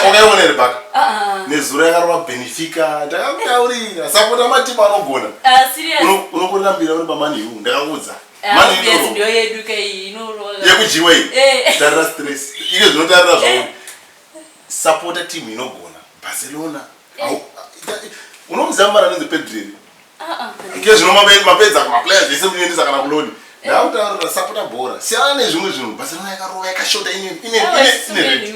ukaionere baka nezuro yakarova benefika ndakakutaurira sapota matimu anogona unokurambira uri pamani hu ndakakuudza yekudyiwa iyi eh. tarira stress iyo zvinotarira zvauri eh. sapota timu inogona barcelona unomuziva muvana anonzi pedreri ke zvino mapedza kumaplayers vese munoendesa kana kuloni ndaakutaurira sapota bhora siyana nezvimwe zvinhu barcelona yakarova yakashota ineineinei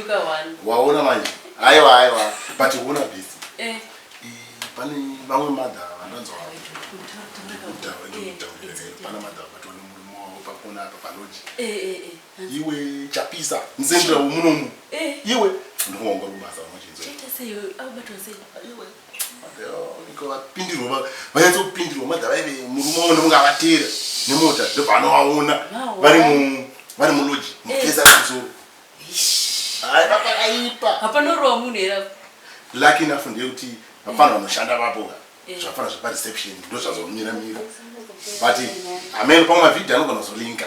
waona manje aiwa aiwa but kuona bisi eh. pane vamwe madha vandanzwa vataura eh. pana madha vatonemurume wavo pakona apa paloji eh, iwe chapisa mzendera womunomu eh. iwe ndikuonga kubasa vapindirwa vanyatso kupindirwa madha vaive murume wavo ndonga vatera nemota ndobva anovaona vari vari muloji mukeza eh. kumusoro haipapakaipa hapana rova munhu here lucky enough ndeyekuti vapfanha vanoshanda vapo eh. zvapfanha zvepareception ndozvazomira mira but amene pamwe mavhidhi anogona kuzolinka